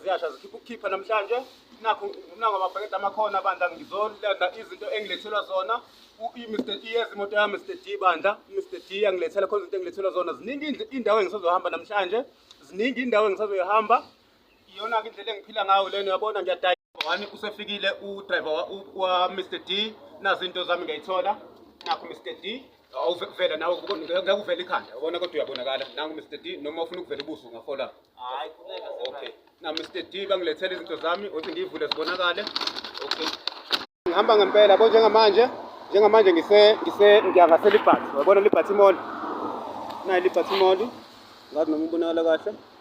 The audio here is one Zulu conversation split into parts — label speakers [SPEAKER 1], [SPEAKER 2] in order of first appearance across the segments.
[SPEAKER 1] Ziyasha zikhipha ukukhipha namhlanje nakho ngumnango ababhekeda amakhona bandla ngizolanda izinto engilethelwa zona Mr D yes imoto yami Mr D bandla Mr D angilethela khona izinto engilethelwa zona ziningi indawo engisazohamba namhlanje ziningi indawo engisazoyihamba iyona ke indlela engiphila ngayo lena uyabona ngiyadaya wani usefikile udriver wa Mr D nazinto zami ngiyayithola nakho Mr D awuvela nawe ngakuvela ikhanda ubona kodwa uyabonakala nangu Mr D noma ufuna ukuvela ubuso ngafola hayi
[SPEAKER 2] khuleka okay
[SPEAKER 1] na Mr D bangilethela izinto zami othi ngivule zibonakale okay ngihamba ngempela bo njengamanje njengamanje ngise ngise ngiyangase libhathi wabona libhathi mall nayi libhathi mall ngathi noma ubonakala kahle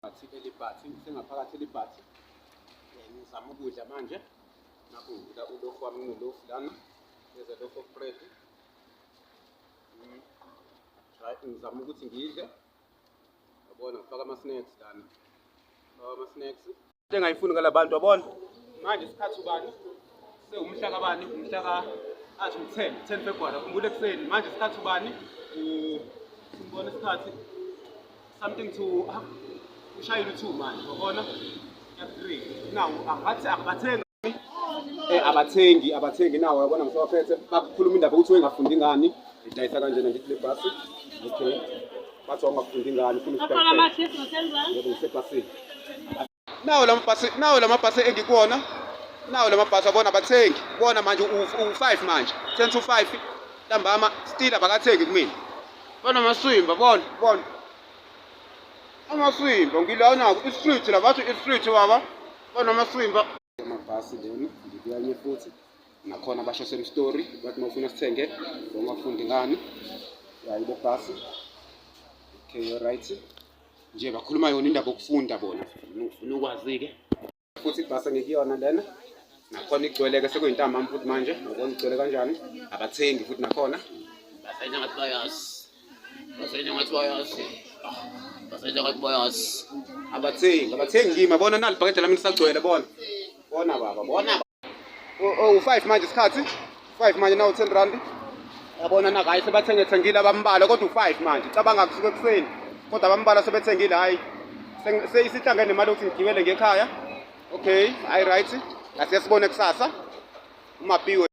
[SPEAKER 1] Bathi elibhathi, ngisengaphakathi elibhathi. Eh, ngizama ukudla manje. Nakho ngidla ulofu wami nginolofu lana. There's a loaf of bread. Mm. Try ngizama ukuthi ngidle. Yabona ngifaka ama snacks lana. Ngifaka ama snacks. Into engayifuni ngalabantu yabona. Manje isikhathi ubani? sewumhla kabani umhla ka athi u-10 10 february akhumbule ekuseni manje isikhathi ubani simbona isikhathi something to ushayile u-2 manje wabona ya-3 nawu angathi angibathengi eh, abathengi abathengi nawo yabona ngisewaphethe bakhuluma indaba ukuthi wengafundi ngani idayisa kanjena ngithi le bhasi okay bathi wangafundi ngani funa usebhasini nawo lamabhasi nawo lamabhasi engikuwona nawo lamabhasi abona abathengi bona manje u-5 manje sense u-5 ntambama still abakathengi kumina bona maswimba bona bona amaswimba ngilawonako i-street la bathi i-street baba bona amaswimba amabhasi lena ngikuyanye futhi nakhona basho same story bathi mawufuna sithenge ngomafundi ngani yayi le bhasi okay right nje bakhuluma yona indaba yokufunda bona ngifuna ukwazi-ke futhi ibhasi engikuyona lena nakhona igcwele-ke sekuyintambami futhi manje ngokona igcwele kanjani abathengi futhi nakhona
[SPEAKER 2] basenye ngathi bayazi basenye ngathi bayazi basenye ngathi bayazi abathengi
[SPEAKER 1] abathengi kimi bona nalibhakede lami lisagcwele bona bona baba bona u-5 oh, manje isikhathi 5 manje nawu 10 rand yabona na hayi sebathengethengile abambala kodwa u-5 manje cabanga kusuke ekuseni kodwa abambala sebethengile hhayi seyisihlangene nemali yokuthi ngigibele ngekhaya okay hhayi right asiyasibone kusasa umapiwe